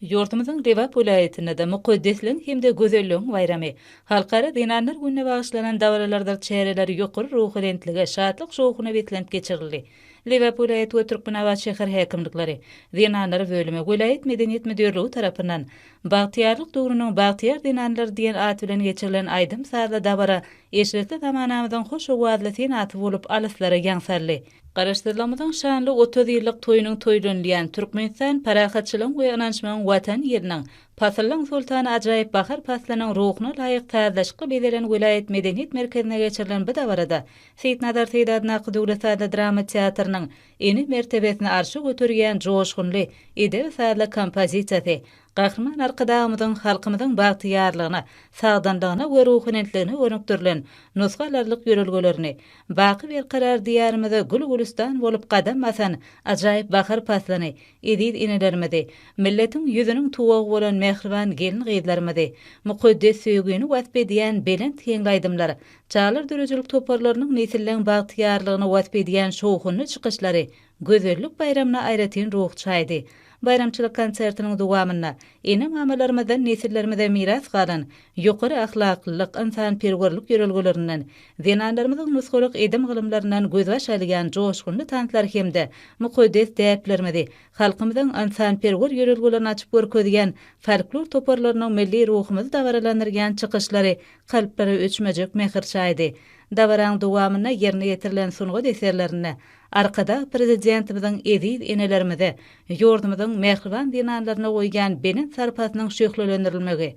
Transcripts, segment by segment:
Ýurdumyzyň Lebap welaýatynda-da Mukaddesligiň hem-de gözelligiň baýramy, Halkara zenanlar gününe bagyşlanan dabaralardyr çäreler ýokary ruhubelentlige, şatlyk-şowhuna beslenip geçirildi. Lebap welaýat we Türkmenabat şäher häkimlikleri, Zenanlar bölümi, welaýat medeniýet müdirligi tarapyndan Bagtyýarlyk döwrüniň bagtyýar zenanlary diýen at bilen geçirilen aýdym-sazly dabara eşretli zamanamyzyň hoş owazly senaty bolup alyslara ýaň saldy. Garaşsyzlygymyzyň şanly otuz ýyllyk toýunyň toýlanylýan Türkmenistan parahatçylygyň we ynançmagyň Watan ýeriniň, pasyllaryň soltany ajaýyp bahar paslynyň ruhuna laýyk sazlaşykly bezelen welaýat medeniýet merkezinde geçirilen bu dabarada Seýitnazar Seýit adyndaky döwlet sazly drama teatrynyň Ene mertebesini arşa göterýän joşgunly edebi-sazly kompozisiýasy Gahryman Arkadagymyzyň halkymyzyň bagtyýarlygyna, sagdynlygyna we ruhubelentligine gönükdirilen nusgalarlyk ýörelgelerini, baky berkarar Diýarymyzda gül-gülistan bolup gadam basan ajaýyp bahar paslyny, eziz enelerimizi, milletiň ýüzüniň tuwagy bolan mähriban gelin-gyzlarymyzy, mukaddes söýgini wasp edýän belent heňli aýdymlar Çagalar döredijilik toparlarynyň nesilleň bagtyýarlygyny wasp edýän şowhunly çykyşlary gözellik baýramyna aýratyn ruh çaýdy. Baýramçylyk konsertiniň dowamynda ene-mamalarymyzdan nesillerimize miras galan ýokary ahlaklylyk, ynsanperwerlik ýörelgelerinden, zenanlarymyzyň nusgalyk edim-gylymlaryndan gözbaş alýan joşgunly tanslar hem-de mukaddes däplerimizi, halkymyzyň ynsanperwer ýörelgelerini açyp görkezýän folklor toparlarynyň milli ruhumyzy dabaralandyrýan çykyşlary kalplara öçmejek mähir çaýdy. Dabaraň dowamynda ýerine ýetirilen sungat eserlerinde Arkadag Prezidentimiziň eziz enelerimize, ýurdumyzyň mähriban zenanlaryna goýýan belent sarpasynyň şöhlelendirilmegi,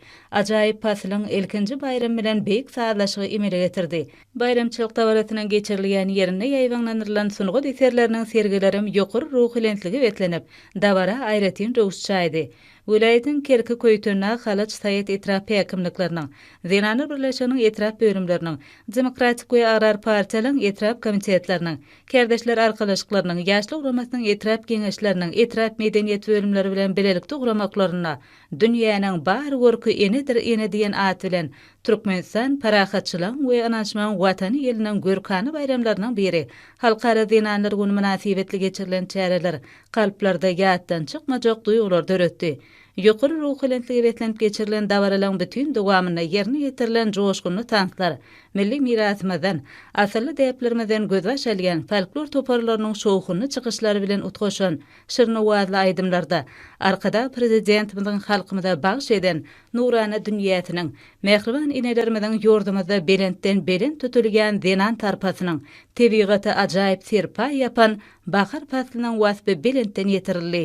ajaýyp pasylyň ilkinji baýramy bilen beýik sazlaşygy emele getirdi. Baýramçylyk dabarasynyň geçirilýän ýerinde ýaýbaňlandyrylan sungat eserleriniň sergilerem ýokary ruhylentligi beslenip, dabara aýratyn röwüş çaýdy. Welaýatyň Kerki Köýtendag, Halaç, Saýat etrap häkimlikleriniň, Zenanlar birleşiginiň etrap bölümleriniň, Demokratik we Agrar partiýalaryň etrap komitetleriniň, Kärdeşler arkalaşyklarynyň, Ýaşlar guramasynyň etrap geňeşleriniň, etrap medeniýet bölümleri bilen bilelikde guramaklarynda Dünýäniň bar görki enedir ene diýen at bilen Türkmenistan parahatçylygyň we ynanyşmagyň Watany ýylynyň görkana baýramlarynyň biri, Halkara zenanlar güni mynasybetli geçirilen çäreler kalplarda ýatdan çykmajak duýgulary döretdi. Ýokary ruhubelentlige beslenip geçirilen dabaralaryň bütin dowamynda ýerine ýetirilen joşgunly tanslar, milli mirasymyzdan, asylly däplerimizden gözbaş alýan folklor toparlarynyň şowhunly çykyşlary bilen utgaşan şirin owazly aýdymlarda Arkadag Prezidentimiziň halkymyza bagyş eden nurana dünýäsiniň, mähriban enelerimiziň ýurdumyzda belentden-belent tutulýan zenan sarpasynyň tebigata ajaýyp serpaý ýapan Bahar paslynyň waspy belentden ýetirildi.